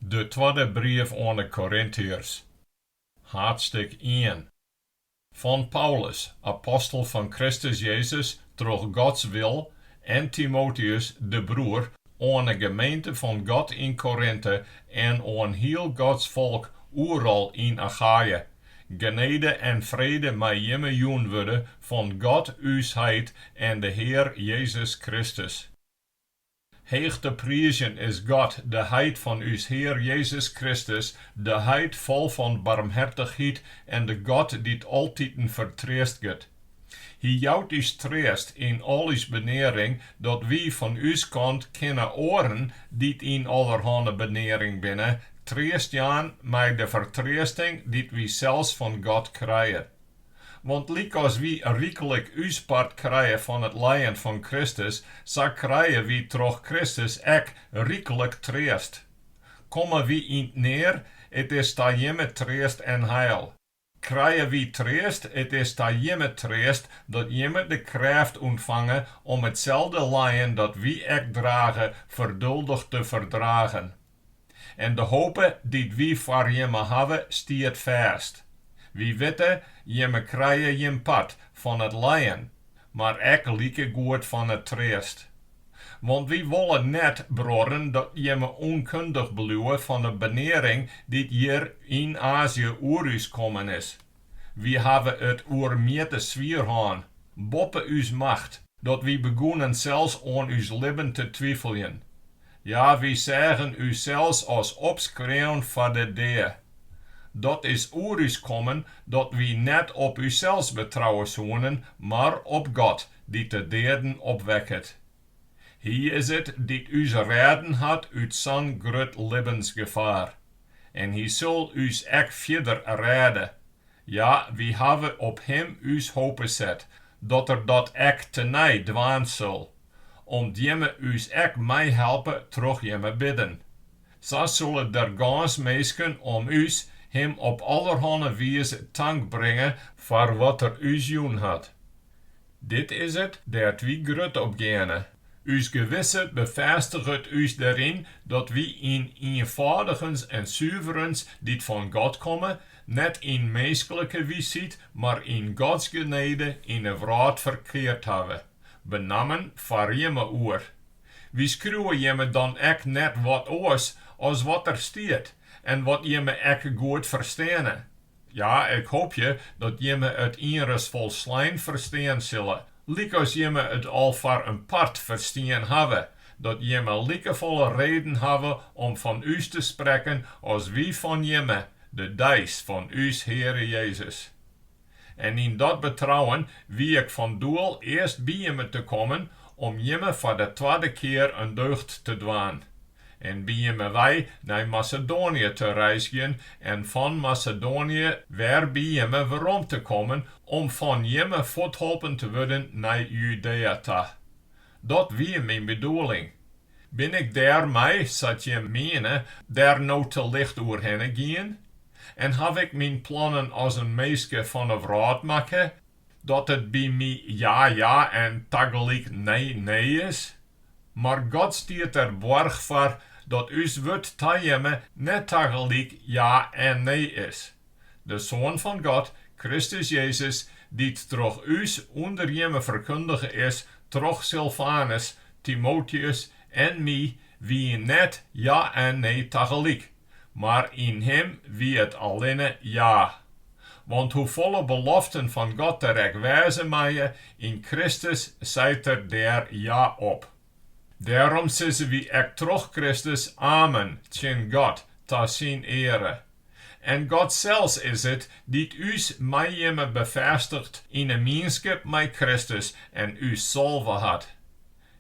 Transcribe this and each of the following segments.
De twadde brief oan 'e Korintiërs, haadstik ien. Fan Paulus, apostel fan Kristus Jezus troch Gods wil, en Timoteus, de broer, oan 'e gemeente fan God yn Korinte en oan hiel Gods folk oeral yn Achaje. Genede en frede mei jimme jûn wurde fan God ús Heit en de Hear Jezus Kristus. Heech te priizjen is God, de Heit fan ús Hear Jezus Kristus, de Heit fol fan barmhertichheid en de God dy't altiten fertreastget. Hy jout ús treast yn al ús benearing, dat wy fan ús kant kinne oaren dy't yn allerhanne benearing binne, treast jaan mei de fertreasting dy't wy sels fan God krije. Want lykas wy ryklik ús part krije fan it lijen fan Kristus, sa krije wy troch Kristus ek ryklik treast. Komme wy yn 't near, it is ta jimme treast en heil. Krije wy treast, it is ta jimme treast, dat jimme de krêft ûntfange om itselde lijen dat wy ek drage ferduldich te ferdragen. En de hope dy't wy foar jimme hawwe, stiet fêst. Wy witte, jimme krije jim part fan it lijen, mar ek likegoed fan it treast. Want wy wolle net, bruorren, dat jimme ûnkundich bliuwe fan de benearing dy't hjir yn Azië oer ús kommen is. Wy hawwe it oer mjitte swier hân, boppe ús macht, dat wy begûnen sels oan ús libben te twifeljen. Ja, wy seagen ússels as opskreaun foar de dea. Dat is oer ús kommen dat wy net op ússels betrouwe soenen, mar op God, dy't de deaden opwekket. Hy is it dy't ús rêden hat út sa'n grut libbensgefaar. en hy sil ús ek fierder rêde. Ja, wy hawwe op him ús hope set dat er dat ek tenei dwaan sil, om't jimme ús ek meihelpe troch jimme bidden. Sa sille der gâns minsken om ús him op allerhanne wize tank bringe foar wat er ús jûn hat. Dit is it dêr't wy grut op geane. Us gewisse befêstiget ús deryn dat wy yn ienfâldigens en suverens dy't fan God komme, net yn minsklike wysheid, mar yn Gods genede yn 'e wrâld ferkeard hawwe, benammen foar jimme oer. Wy skriuwe jimme dan ek net wat oars as wat der stiet en wat jimme ek goed fersteane, Ja, ik hoopje dat jimme it ienris folslein ferstean sille, lykas jimme it al foar in part ferstien hawwe, dat jimme likefolle reden hawwe om fan ús te sprekken as wy fan jimme, de deis fan ús Heare Jezus. En yn dat betrouwen wie ik fan doel earst by jimme te kommen om jimme foar de twadde kear in deugd te dwaan. en by jimme wei nei Masedoanië te reizgjen en fan Masedoanië wer by jimme werom te kommen om fan jimme fuortholpen te wurden nei Judea ta. Dat wie myn bedoeling. Bin ik dêrmei, sa't jim miene, dêr no te licht oerhinne gien? En haw ik myn plannen as in minske fan 'e wrâld makke? Dat it by my ja ja en tagelyk nee nee is. Mar God stiet der boarch foar dat ús wurd ta jimme net tagelyk ja en nee is. De Soan fan God, Kristus Jezus, dy't troch ús ûnder jimme ferkundige is troch Silfanus, Timoteus en my, wie net ja en nee tagelyk. Mar yn him wie it allinne ja. Want hoefolle beloften fan God der ek wêze meie, yn Kristus seit er dêr ja op. Dêrom sizze wy ek troch Kristus amen tsjin God ta syn eare. En God sels is it dy't ús mei jimme befêstiget yn 'e mienskip mei Kristus en ús salve hat.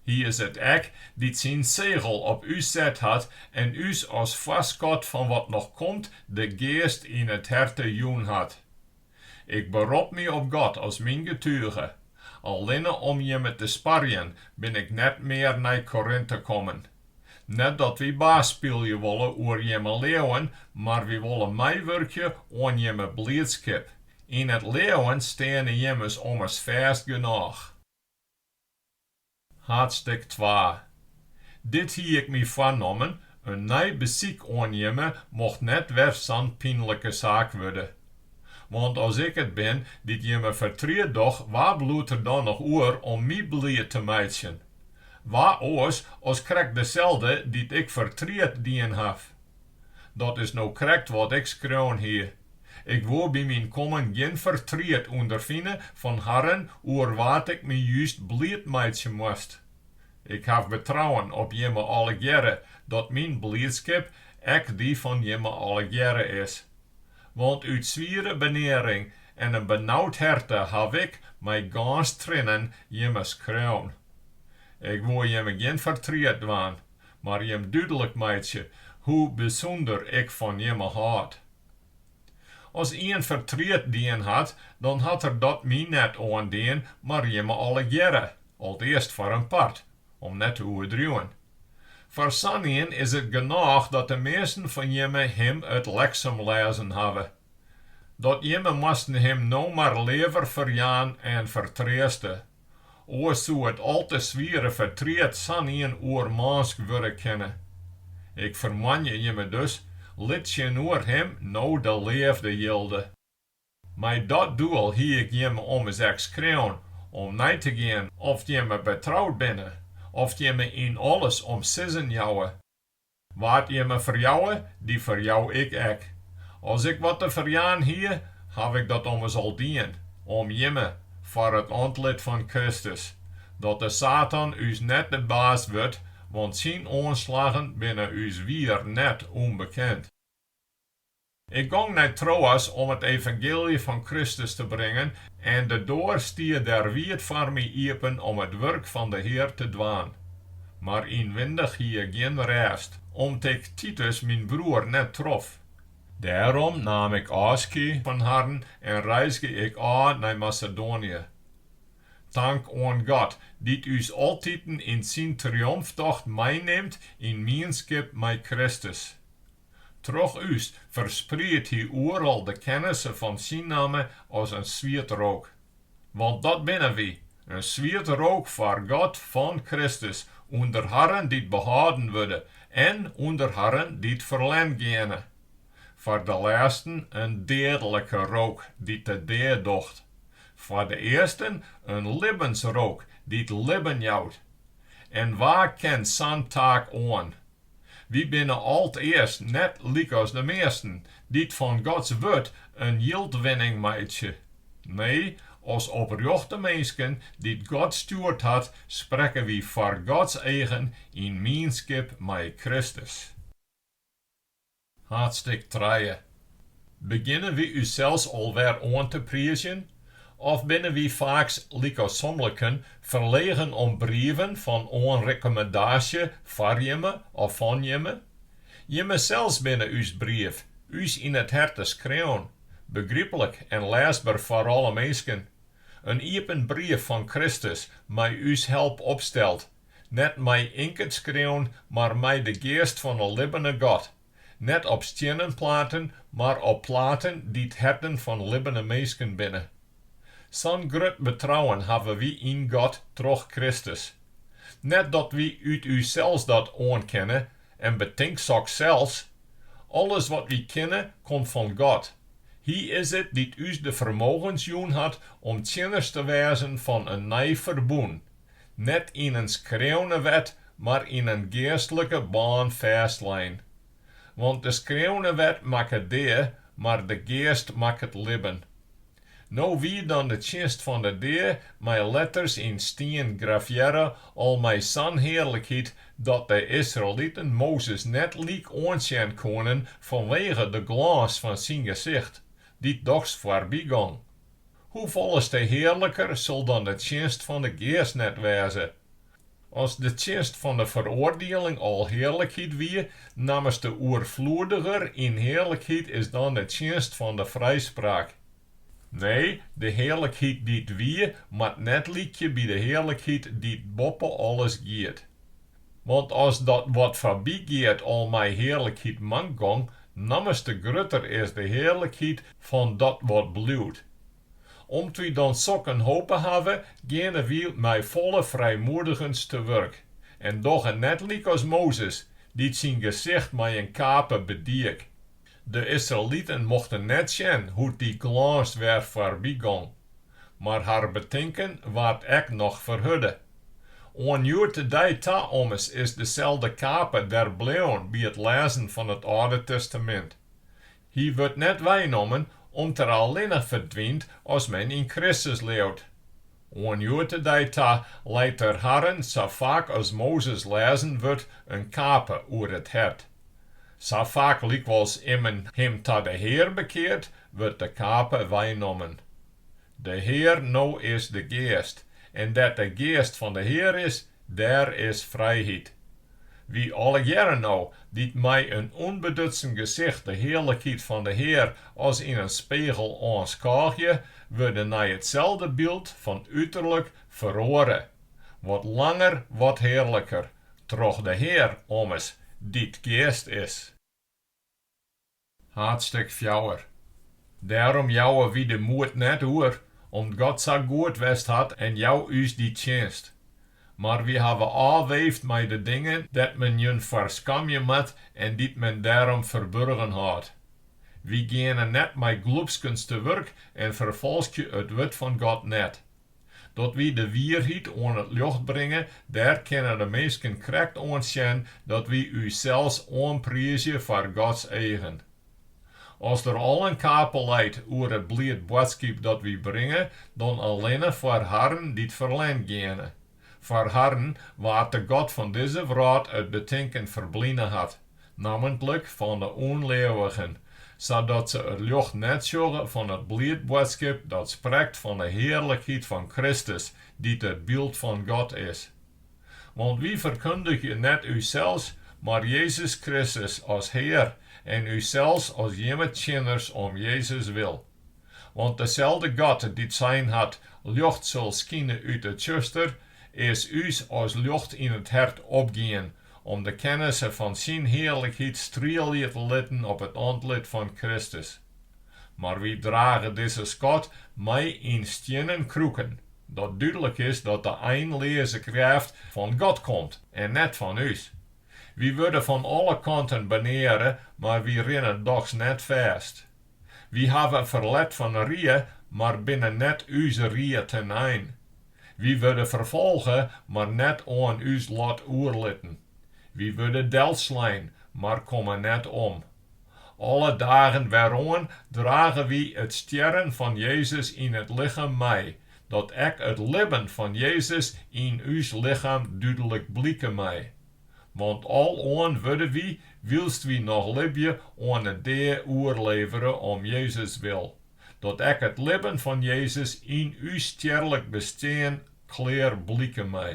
Hy is it ek dy't syn segel op ús set hat en ús as foarskot fan wat noch komt de Geast yn it herte jûn hat. Ik berop my op God as myn getuge. Allinne om jimme te sparjen bin ik net mear nei Korinte kommen. Net dat wy baas spylje wolle oer jimme leauwen, mar wy wolle meiwurkje oan jimme bliidskip. Yn it leauwen steane jimmes ommers fêst genôch. Haadstêk twa. Dit hie ik my foarnommen, in nij besyk oan jimme mocht net wer sa'n pynlike saak wurde. Want as ik it bin dy't jimme fertriet doch, wa bliuwt der dan noch oer om my bliid te meitsjen? Wa oars as krekt deselde dy't ik fertriet dien haw? Dat is no krekt wat ik skreaun hie. Ik woe by myn kommen gjin fertriet ûnderfine fan harren oer wa't ik my just bliid meitsje moast. Ik haw betrouwen op jimme allegearre dat myn bliidskip ek dy fan jimme allegearre is. Want út swiere benearing en in benaud herte haw ik, mei gâns triennen, jimme skreaun. Ik woe jimme gjin fertriet dwaan. Mar jim dúdlik meitsje hoe bysûnder ik fan jimme hâld. As ien fertriet dien hat, dan hat er dat my net oandien, mar jimme allegearre, alteast foar in part, om net te oerdriuwen. Foar sanein is it genôch dat de measten fan jimme him it leksum lêzen hawwe. Dat jimme moasten him no mar leaver ferjaan en fertreaste, Oars soe it al te swiere fertriet sanien oermânsk wurde kinne. Ik fermoanje jimme dus, lit tsjinoer him no de leafde jilde. Mei dat doel hie ik jimme ommers ek skreaun om nei te gean oft jimme betroud binne, oft jimme yn alles om sizzen jouwe. Wa't jimme ferjouwe, dy ferjou ik ek. As ik wat te ferjaan hie, haw ik dat ommers al dien, om jimme, foar it antlit fan Kristus, dat de Satan ús net de baas wurdt, want syn oanslaggen binne ús wier net ûnbekend. Ik gong nei Troas om it evangeelje fan Kristus te bringen en de doar stie dêr wiid foar my iepen om it wurk fan de Hear te dwaan. Mar ynwindich hie ik gjin rêst, om't ik Titus myn broer net trof. Dêrom naam ik ôfskie fan harren en reizge ik ôf nei Masedoanië. Tank oan God, dy't ús altiten yn syn triomftocht meinimt yn mienskip mei Kristus. Troch ús ferspriedt hy oeral de kennisse fan syn namme as in swiet rook. Want dat binne wy, in swiet rook foar God fan Kristus ûnder harren dy't behâlden wurde en ûnder harren dy't ferlern geane. Foar de lêsten in deadlike rook dy't de dea docht, foar de earsten in libbensrook dy't libben jout. En wa kin sa'n taak oan? Wy binne alteast net lykas de measten, dy't fan Gods Wurd in jildwinning meitsje. Nee, as oprjochte minsken dy't God stjoerd hat, sprekke wy foar Gods eagen yn mienskip mei Kristus. Haadstik trije. Begjinne wy ússels alwer oan te priizjen? Of binne wy faaks lykas somliken ferlegen om brieven fan oanrekkommendaasje foar jimme of fan jimme? Jimmesels binne ús brief, ús yn it herte skreaun, begryplik en lêsber foar alle minsken. In iepen brief fan Kristus mei ús help opsteld, Net mei ynket skreaun, mar mei de geast fan 'e libbene God. Net op stiennen platen, mar op platen dy't herten fan libbene minsken binne. Sa'n grut betrouwen hawwe wy yn God troch Kristus. Net dat wy út ússels dat oankenne, en betink soks sels. Alles wat wy kinne, komt fan God. Hy is it dy't ús de fermogens jûn hat om tsjinners te wêzen fan in nij ferbûn. Net yn in skreaune wet, mar yn in geastlike bân fêstlein. Want de skreaune wet makket dea, mar de geast makket libben. No wie dan de tsjinst fan de dea mei letters yn stien grafearre al mei sa'n hearlikheid dat de Israeliten Mozes net lyk oansjen koenen fanwege de glâns fan syn gesicht, dy't dochs foarby gong. Hoefolle te hearliker sil dan de tsjinst fan de Geast net wêze! As de tsjinst fan de feroardieling al hearlikheid wie, nammers te oerfloediger yn hearlikheid is dan de tsjinst fan de frijspraak. Nee, de hearlikheid dy't wie, moat net lykje by de hearlikheid dy't boppe alles giet. Want as dat wat foarby giet al mei hearlikheid mank gong, nammers te grutter is de hearlikheid fan dat wat bliuwt. Om't wy dan sok in hope hawwe, geane wy mei folle frijmoedigens te wurk en dogge net lykas Mozes, dy't syn gesicht mei in kape bediek. De Israeliten mochten net sjen hoe't dy glâns wer foarby gong, mar har betinken waard ek noch ferhurde. Oan hjoed-de-dei ta ommers is deselde kape der bleaun by it lêzen fan it Alde Testamint. Hy wurdt net weinommen om't er allinne ferdwynt as men yn Kristus leaut. Oan hjoed-de-dei ta leit der harren sa faak as Mozes lêzen wurdt in kape oer it hert. Sa faak lykwols immen him ta de Hear bekeart, wurdt de kape weinommen. De Hear no is de Geast, en dêr't de Geast fan de Hear is, Dêr is frijheid. Wy allegearre no, dy't mei in ûnbedutsen gesicht de hearlikheid fan de Hear as yn in spegel oanskôgje, wurde nei itselde byld fan uterlik feroare, wat langer, wat hearliker, troch de Hear ommers, dy't Geast is. Haadstêk fjouwer. Dêrom jouwe wy de moed net oer, om't God sa goed west hat en jou ús dy tsjinst. Mar wy hawwe ôfweefd mei de dingen dêr't men jin foar skamje moat en dy't men dêrom ferburgen hâldt. Wy geane net mei glûpskens te wurk en ferfolskje it wurd fan God net. Dat wy de wierheid oan it ljocht bringe, dêr kinne de minsken krekt oan sjen dat wy ússels oanpriizje foar Gods eagen. As der al in kape leit oer it bliid boadskip dat wy bringe, dan allinne foar harren dy't ferlern geane. Foar harren wa't de god fan dizze wrâld it betinken ferbline hat. Nammentlik fan de ûnleauwigen, sadat se it ljocht net sjogge fan it bliid boadskip dat sprekt fan de hearlikheid fan Kristus, dy't it byld fan God is. Want wy ferkundgje net ússels, mar Jezus Kristus as Hear en ússels as jimme tsjinners om Jezus wil. Want deselde God dy't sein hat, Ljocht sil skine út it tsjuster, is ús as ljocht yn it hert opgien Om de kennisse fan syn hearlikheid strielje te litten op it antlit fan Kristus. Mar wy drage dizze skat mei yn stiennen kroeken, dat dúdlik is dat de einleaze krêft fan God komt en net fan ús. Wy wurde fan alle kanten beneare, mar wy rinne dochs net fêst. Wy hawwe ferlet fan rie, mar binne net ús rie te'n ein. Wy wurde ferfolge, mar net oan ús lot oerlitten. Wy wurde delslein, mar komme net om. Alle dagen weroan drage wy it stjerren fan Jezus yn it lichem mei, dat ek it libben fan Jezus yn ús lichem dúdlik blike mei. want al oan wurde wy, wylst wy noch libje, oan 'e dea oerlevere om Jezus wil, dat ek it libben fan Jezus yn ús stjerlik bestean klear blike mei.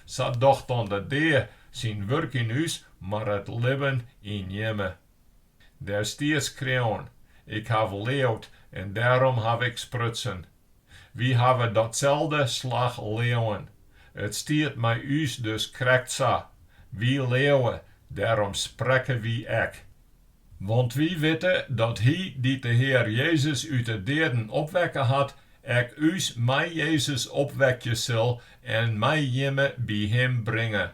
Sa docht dan de dea syn wurk yn ús, mar it libben yn jimme. Der stiet skreaun, Ik haw leaud en dêrom haw ik sprutsen. Wy hawwe datselde slach leauwen. It stiet mei ús dus krekt sa. Wy leauwe, dêrom sprekke wy ek. Want wy witte dat Hy dy't de Hear Jezus út 'e deaden opwekke hat, ek ús mei Jezus opwekje sil en mei jimme by Him bringe.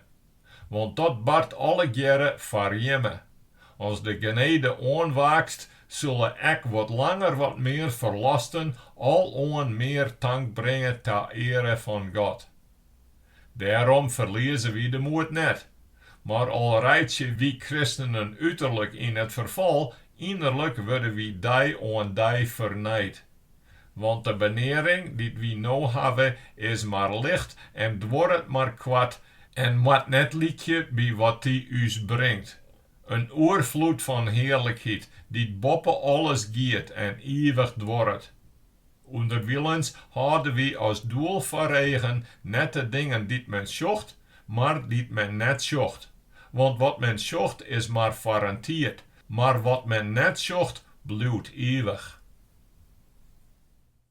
want dat bart allegearre foar jimme. As de genede oanwaakst, sille ek wat langer wat mear ferlosten aloan mear tank bringe ta eare fan God. Dêrom ferlieze wy de moed net, mar al reitsje wy kristenen uterlik yn it ferfal, ynnerlik wurde wy dei oan dei fernijd. Want de benearing dy't wy no hawwe is mar licht en duorret mar koart en moat net lykje by wat dy ús bringt: in oerfloed fan hearlikheid dy't boppe alles giet en ivich duorret. Underwilens hâlde wy as doel foar eagen net de dingen dy't men sjocht, mar dy't men net sjocht. Want wat men sjocht is mar foar in tiid, Mar wat men net sjocht, bliuwt ivich.